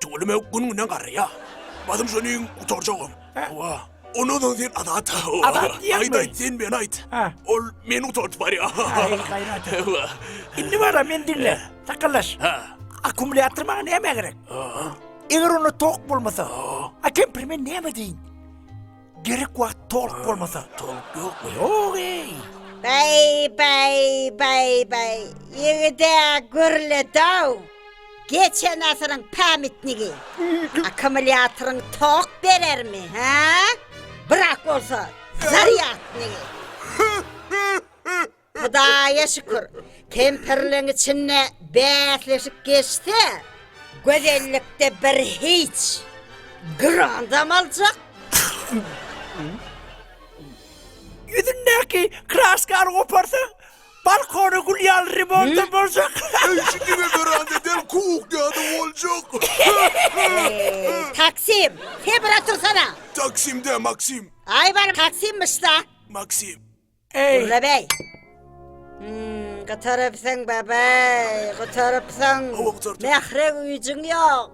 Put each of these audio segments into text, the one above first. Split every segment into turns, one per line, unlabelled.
Tüweleme günüňden garraýa. Basym şonuň gutarjagam. Hawa. Ondan soň sen Azat. Azat diýýäňmi? Aýt, aýt,
sen meni aýt. Ha.
Ol meni gutardyp barýa. Aý,
gaýrat et. Hawa. Indi wara, meni diňle. Sakaldaş. Ha. Akkumulýator maňa nämä gerek? Eger onda tok bolmasa, a kempiri men näme edeýin? Gerek wagt toluk bolmasa, toluk ýok. Ýok
eý!
Bäý, bäý,
bäý, bäý. Ýigide gürledaw. Geçen asyryň pämitnigi. Akkumulýatoryň tok berermi, hä? Brak bolsa, zarýadnigi. Hudaýa şükür, kempirleň içinde bäsleşik geçse, gözellikde bir hiç, grandam aljak.
Ýüzündäki kraskany goparsaň, balkony gül ýaly remontdan boljak. Eý, şu diňe
weranda däl, kuhnýa-da boljak.
Taksim, sebra tursana! Taksim dä, Maksim.
Aý, bar, Taksimmiş-da.
Maksim.
Gurra
bäý!
Hmm, gutarypsyň, babaý, gutarypsyň. Mähre
güýjüň
ýok.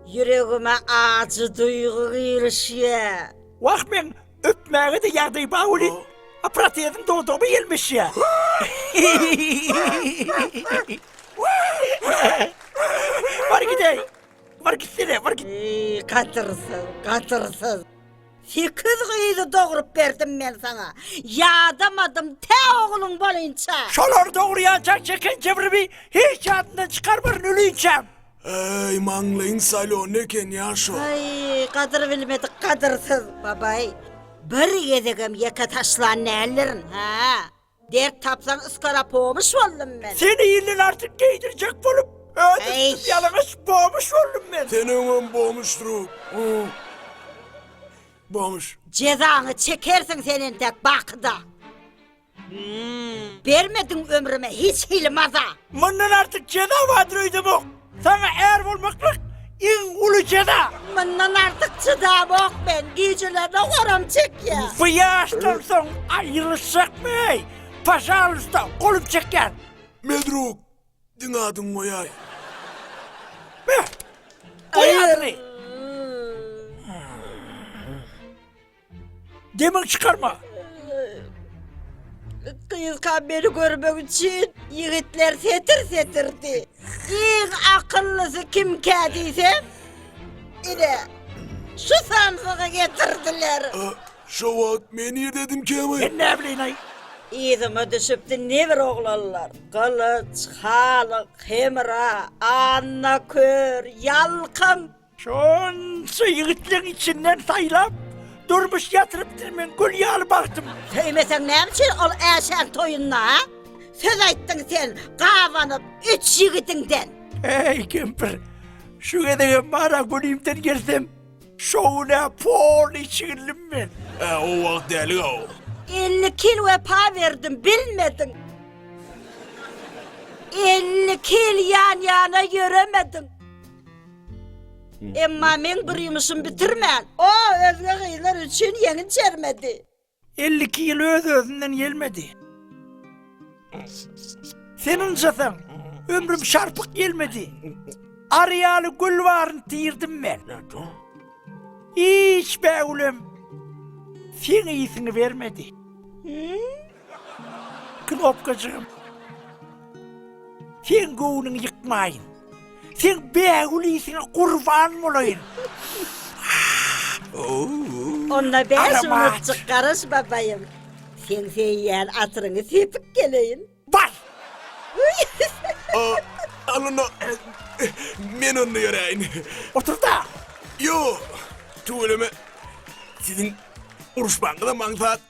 Ýüregime ajy duýgy girişýär. Wah, meň
öpmäge-de ýagdaý bar welin, a protezim dodagyma ýelmeşýär. Bar gidäý! Bar gitsene, bar git! Eý, gatyrsyz, gatyrsyz!
Sekiz gyzy dogrup berdim men saňa. Ýadamadym tä ogluň bolinçä. Şolary dogurýançak
çeken kebrimi hiç ýadyndan çykarmaryn ölinçäm. Äý,
maňlaýyň salon ekenýa şo. Aý, gadyr
bilmedik gadyrsyz. Babaý, bir gezegem ýeke taşlan däldirin, hä? Dert tapsaň yskara pomuş boldum men. Seni ilden artyk
geýdirjek bolup, özüm tutup
ýalaňaç
bomuş boldum men. Sen öňem bomuş
drup, umm, bomuş. Jezaňy
çekersiň sen entek bakyda. Bermediň ömrüme hiç hili maza. Mundan artyk
jeza bardyr öýdemok. Saňa är bolmaklyk iň uly jeza. Mundan artyk
çydabok men, gijelerine goram çekýär. Bu ýaşdan
soň aýylyşjakmy eý? Pažalysta, golum çekýär. Medruk,
diňe adyňy goýaý.
Beh, goý adyňy. Demini çykarma.
Gyzka beni görmek üçin yigitler setir setirdi. Iň akyllysı kimkä diýsem, ine şu sansygy getirdiler. Şu wagt
men ýerdedim käme? Men ne bileýin-aý?
Yzyma
düşüpdi ne bir oglanlar. Gylyç, Halyk, Hemra, Anna kör, Ýalkym. Şonça
ýigitleriň içinden saýlap, durmuş ýatyrypdyr meň gül ýaly bagtym. Söýmeseň näme üçin
ol Äşäň toýunda, a? Söz aýtdyň sen, gabanyp, üç ýigidiňden. Äý, kempir,
şu gezegem bar-a günimden gelsem, şo gün-ä poly çigildim men. Ä, o wagt
däli-ow. Elli kil
wepa berdim, bilmediň. Elli kil ýan-ýana ýöremediň. Emma meň bir ýumuşym bitirmän. O özge gyzlar üçin ýeňin çermedi. Elli iki ýyl
öz-özünden gelmedi. Sen ynjasaň, ömrüm şarpyk gelmedi. Ary ýaly gül baryn tirdim men. Hiç bägülem seň ysňy bermedi. Knopkajygym. Seň göwnüňi ýykmaýyn. Seň bägül ýesiňe gurban bolaýyn.
Onda bäş minutjyk garaş babaýym. Seň söýýän atyryňy sepip geleýin. Bar!
Al onda, men onda ýöräýin. Otur-da!
Ýok,
tüweleme. Siziň uruşmagyňyzam aňsat.